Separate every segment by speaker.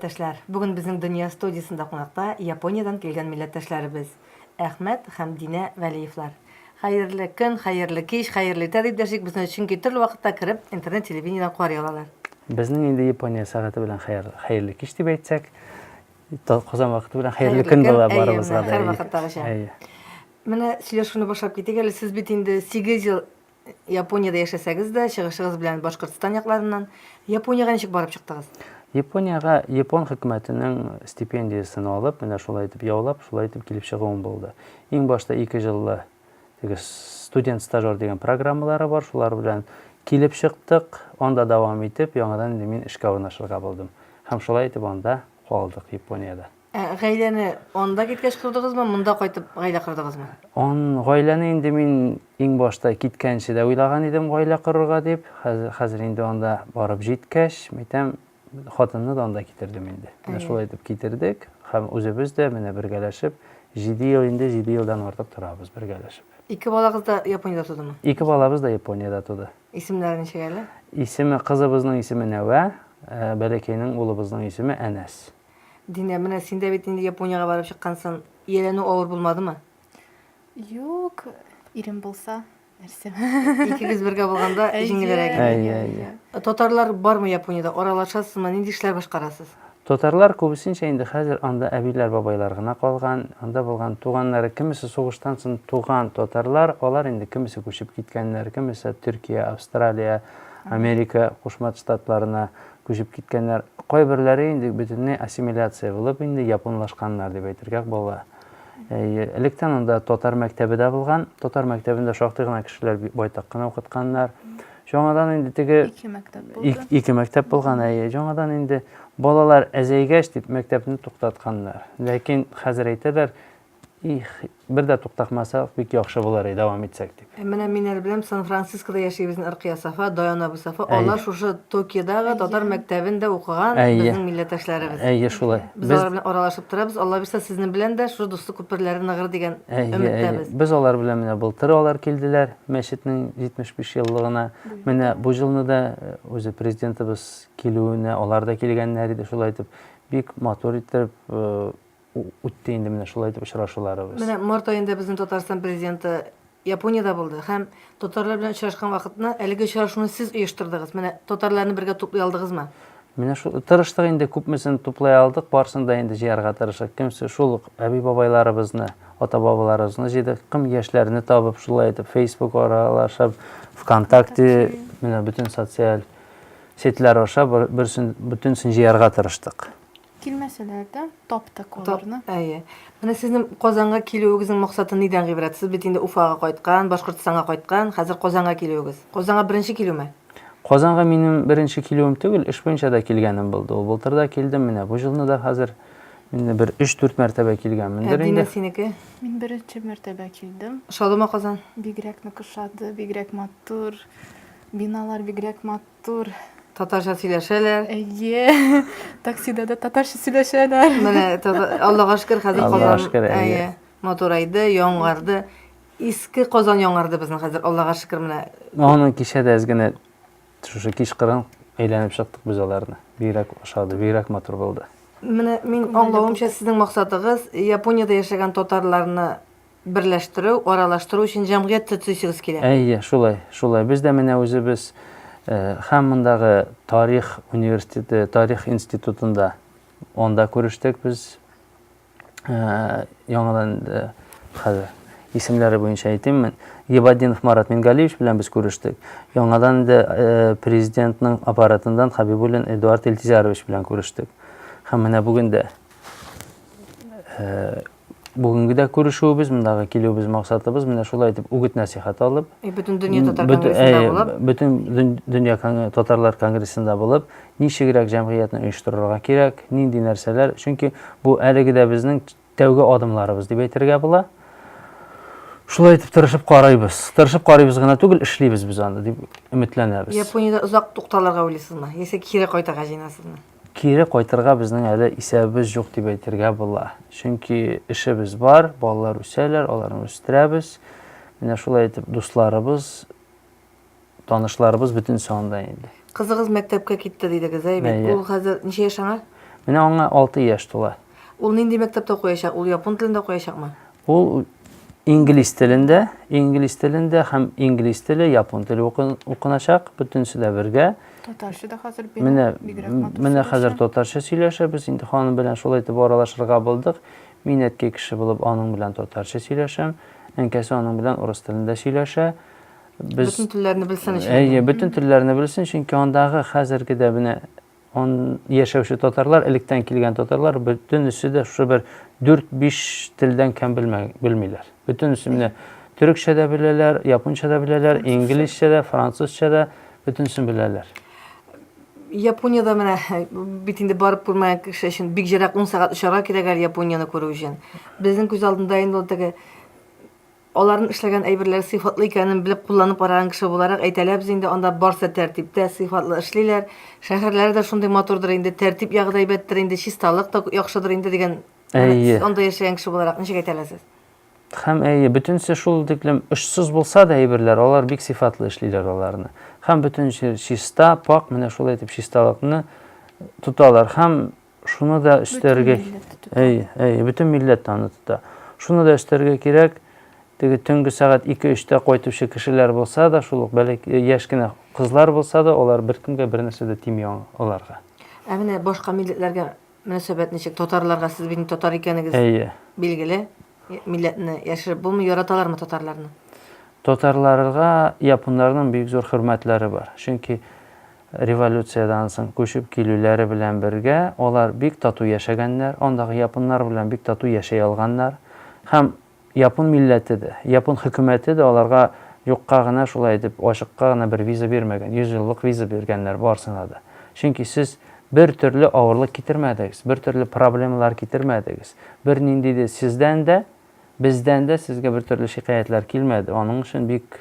Speaker 1: милләттәшләр! Бүген безнең Дөнья студиясендә кунакта Япониядән килгән милләттәшләребез Әхмәт һәм Динә Вәлиевлар. Хәерле көн, хәерле кич, хәерле иртә дип дәшик безне, чөнки төрле вакытта кереп, интернет-телевидениедән карый алалар. Безнең инде
Speaker 2: Япония сәгате белән хәерле кич дип әйтсәк, Казан вакыты белән хәерле көн була барыбызга да. Һәрвакыттагыча.
Speaker 1: Менә сөйләшүне башлап китик әле. Сез бит инде 8 ел Япониядә яшәсәгез дә, чыгышыгыз белән Башкортстан якларыннан. Япониягә ничек барып чыктыгыз? Япониягә
Speaker 2: япон хөкүмәтенең стипендиясен алып, менә шулай итеп яулап, шулай итеп килеп чыгуым булды. Иң башта 2 җыллы теге студент стажер дигән программалары бар, шулар белән килеп чыктык, анда дәвам итеп, яңадан инде мин эшкә урнашырга булдым. Һәм шулай итеп анда калдык, Япониядә. Ә гаиләне
Speaker 1: анда киткәч кордыгызмы, монда кайтып гаилә кордыгызмы? Он гаиләне
Speaker 2: инде мин иң башта киткәнче дә уйлаган идем гаилә корырга дип. Хәзер инде анда барып җиткәч, мәйтәм, хатынны да анда китердем инде. Менә шулай итеп китердек һәм үзебез дә менә бергәләшеп 7 ел инде 7 елдан артык торабыз бергәләшеп. Ике балагыз да
Speaker 1: Япониядә тудымы? Ике балабыз да Япониядә
Speaker 2: туды. Исемнәре ничек әле?
Speaker 1: Исеме кызыбызның
Speaker 2: исеме Нәвә, э, бәләкәйнең улыбызның исеме Әнәс. Динә, менә
Speaker 1: син дә бит инде Япониягә барып чыккансың. Ияләнү авыр булмадымы?
Speaker 3: Юк, ирем булса. нәрсә икегез бергә
Speaker 1: булганда җиңелрәк әйе әйе татарлар бармы япониядә аралашасызмы нинди эшләр башкарасыз татарлар
Speaker 2: күбесенчә инде хәзер анда әбиләр бабайлар гына калган анда булган туганнары кемесе сугыштан соң туган татарлар алар инде кемесе күчеп киткәннәр кемесе төркия австралия америка кушма штатларына күчеп киткәннәр кайберләре инде бөтенләй ассимиляция булып инде японлашканнар дип әйтергә була Әйе, электән анда татар мәктәбе дә булган. Татар мәктәбендә шактый гына кешеләр байтак кына укытканнар. Яңадан инде теге ике мәктәп булган. Ике мәктәп булган, әйе. Яңадан инде балалар әзәйгәч дип мәктәпне туктатканнар. Ләкин хәзер әйтәләр, их, бер дә туктакмасак, бик яхшы булыр иде, дәвам итсәк дип. Ә менә мин әле беләм,
Speaker 1: Сан-Францискода яши безнең Ркыя Сафа, Даян Абу Сафа. Әйе. Алар шушы Токиодагы татар Әйе. мәктәбендә укыган Әйе. безнең милләттәшләребез. Әйе, шулай. Без Без алар
Speaker 2: белән аралашып
Speaker 1: торабыз. Алла бирса, сезнең белән дә шушы дуслык күперләре ныгыр дигән Әйе, әйе. өметтәбез. Без алар белән менә
Speaker 2: былтыр алар килделәр мәчетнең 75 еллыгына. Менә бу елны да э, үзе президентыбыз килүенә алар да килгәннәр иде. Шулай итеп, бик матур итеп э, үтте инде менә шулай итеп очрашуларыбыз. Менә март аенда безнең
Speaker 1: Татарстан президенты Япониядә булды һәм татарлар белән очрашкан вакытына әлеге очрашуны сез оештырдыгыз. Менә татарларны бергә туплый алдыгызмы? Менә шул
Speaker 2: тырыштык инде күпмесен туплай алдык, барсын да инде җыярга тырышык. Кемсе шул ук әби-бабайларыбызны, ата-бабаларыбызны җыйдык, кем яшьләрне табып, шулай итеп Facebook аралашып, ВКонтакте, менә бөтен социаль сетьләр аша бөтенсен җыярга тырыштык. Килмәсәләр
Speaker 3: дә, таптык аларны. Әйе. Менә сезнең
Speaker 1: Казанга килүегезнең максаты нидән гыйбрәт? Сез бит инде Уфага кайткан, Башкортстанга кайткан, хәзер Казанга килүегез. Казанга беренче килүме? Казанга минем
Speaker 2: беренче килүем түгел, эш буенча да килгәнем булды. Ул былтыр да килдем, менә бу җылны да хәзер инде бер 3-4 мәртәбә килгәнмендер инде. Әдиме синеке?
Speaker 1: Мин беренче
Speaker 3: мәртәбә килдем. Шадымы Казан?
Speaker 1: Бигрәк нык ошады,
Speaker 3: бигрәк матур. Биналар бигрәк матур. Тур. Татарча
Speaker 1: сөйләшәләр. Әйе.
Speaker 3: Таксида да татарча сөйләшәләр. Менә Аллага
Speaker 1: шөкер, хәзер Казан. Әйе. Матурайды, яңарды. Иске Казан яңарды безнең хәзер, Аллага шөкер менә. Аны кичә дә
Speaker 2: әзгенә шушы кич кырын әйләнеп чыктык без аларны. Бигрәк ошады, бигрәк матур булды. Менә мин
Speaker 1: аңлавымча сезнең максатыгыз Япониядә яшәгән татарларны Берләштерү, аралаштыру өчен җәмгыять төцисегез килә. Әйе, шулай, шулай. Без дә
Speaker 2: менә үзебез һәм мондагы тарих университеты, тарих институтында анда күрештек без. Яңадан хәзер исемләре буенча әйтиммен. Гибаддинов Марат Мингалиевич белән без күрештек. Яңадан инде президентның аппаратыннан Хабибуллин Эдуард Илтизарович белән күрештек. Һәм менә бүген дә Бүгенге дә күрешүебез, мондагы килүебез максатыбыз менә шулай итеп үгет-нәсихәт алып, И бөтен дөнья татар
Speaker 1: бөтен- конгрессында әй, булып, бөтен дөн- дөнья
Speaker 2: кон- татарлар конгрессында булып, ничегрәк җәмгыятьне оештырырга кирәк, нинди нәрсәләр, чөнки бу әлеге дә безнең тәүге адымларыбыз дип әйтергә була. Шулай итеп тырышып карыйбыз. Тырышып карыйбыз гына түгел, эшлибез без аны дип өметләнәбез. Япониядә озак
Speaker 1: тукталырга уйлыйсызмы? Яисә кире кайтырга җыенасызмы? Кире кайтырга
Speaker 2: безнең әле исәбебез юк дип әйтергә була. Чөнки эшебез бар, балалар үсәләр, аларны үстерәбез. Менә шулай итеп дусларыбыз,
Speaker 1: танышларыбыз бөтенесе анда инде. Кызыгыз мәктәпкә китте дидегез,
Speaker 2: әй
Speaker 1: бит. Ул хәзер ничә
Speaker 2: яшь аңа?
Speaker 1: Менә
Speaker 2: аңа алты яшь тула. Ул нинди мәктәптә
Speaker 1: укыячак? Ул япон телендә укыячакмы? Ул
Speaker 2: инглиз телендә, инглиз телендә һәм инглиз теле, япон теле укыначак, бөтенесе дә бергә. Татарча да хәзер
Speaker 3: бирә. Менә менә
Speaker 2: хәзер татарча сөйләшәбез. Инде ханым белән шулай итеп аралашырга булдык. Мин әткәй кеше булып аның белән татарча сөйләшәм. Әнкәсе аның белән урыс телендә сөйләшә. Без бөтен
Speaker 1: телләрне белсен өчен. Әйе, бөтен телләрне
Speaker 2: белсен, чөнки андагы хәзерге дә менә Он яшәүче татарлар, электән килгән татарлар, бөтенесе дә шушы бер 4-5 телдән кәм белмиләр. Бөтенесе менә төрекчә дә беләләр, японча да беләләр, инглизчә дә, французча да, бөтенесен беләләр.
Speaker 1: Япониядә менә бит инде барып күрмәгән кеше өчен бик җирәк 10 сәгать очарга кирәк әле Японияне күрү өчен. Безнең күз алдында инде ул теге Аларнын эшләгән әйберләре сыйфатлы икәнен белеп кулланып караган кеше буларак әйтәләбез инде, анда барсы тәртиптә, сыйфатлы эшлиләр. Шәһәрләре дә шундый матурдыр инде, тәртип ягы да әйбәттер инде, чисталык та яхшыдыр инде дигән, әнә Әйе. сез анда яшәгән кеше буларак ничек әйтә аласыз? Хәм әйе,
Speaker 2: бөтенесе шул тиклем очсыз булса да әйберләр, алар бик сыйфатлы эшлиләр аларны. Хәм бөтен җир чиста, пакь, менә шулай итеп чисталыкны тоталар. Хәм Шуны да өстәргә әй, әй, бөтен милләт аны тота. Шуны да өстәргә кирәк, теге төнге сәгать 2-3-тә кайтучы кешеләр булса да, шул ук бәләк э, яшь кенә кызлар булса да, алар беркемгә бер нәрсә дә тими аларга. Ә менә башка
Speaker 1: милләтләргә мөнәсәбәт ничек? Татарларга сез бит татар икәнегез. Әйе. Билгеле. Милләтне яшереп булмый, яраталармы татарларны? Татарларга
Speaker 2: японнарның бик зур хөрмәтләре бар. Чөнки Революциядән соң күчеп килүләре белән бергә алар бик тату яшәгәннәр, андагы японнар белән бик тату яшәй алганнар. Һәм япон милләте дә, япон хөкүмәте дә аларга юкка гына шулай итеп ачыкка гына бер виза бирмәгән, йөз еллык виза биргәннәр барсына да. Чөнки сез бер төрле авырлык китермәдегез, бер төрле проблемалар китермәдегез, бер нинди дә сездән дә, бездән дә сезгә бер төрле шикаятьләр килмәде, аның өчен бик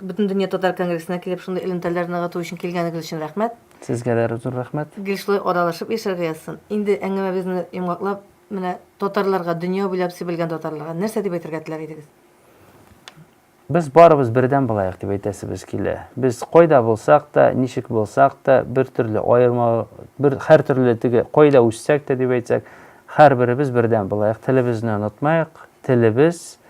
Speaker 2: Бөтендөнья татар
Speaker 1: конгрессына килеп, шундый элемтәләр ныгыту өчен килгәнегез өчен рәхмәт. Сезгә дә зур
Speaker 2: рәхмәт. Гел шулай аралашып
Speaker 1: яшәргә язсын. Инде әңгәмәбезне йомгаклап, менә татарларга, дөнья буйлап сибелгән татарларга нәрсә дип әйтергә теләр идегез?
Speaker 2: Без барыбыз бердәм булаек дип әйтәсебез килә. Без кайда булсак та, ничек булсак та, бер төрле аерма, бер һәртөрле теге кайда үссәк тә дип әйтсәк, һәрберебез бердәм булаек, телебезне онытмаек, телебез,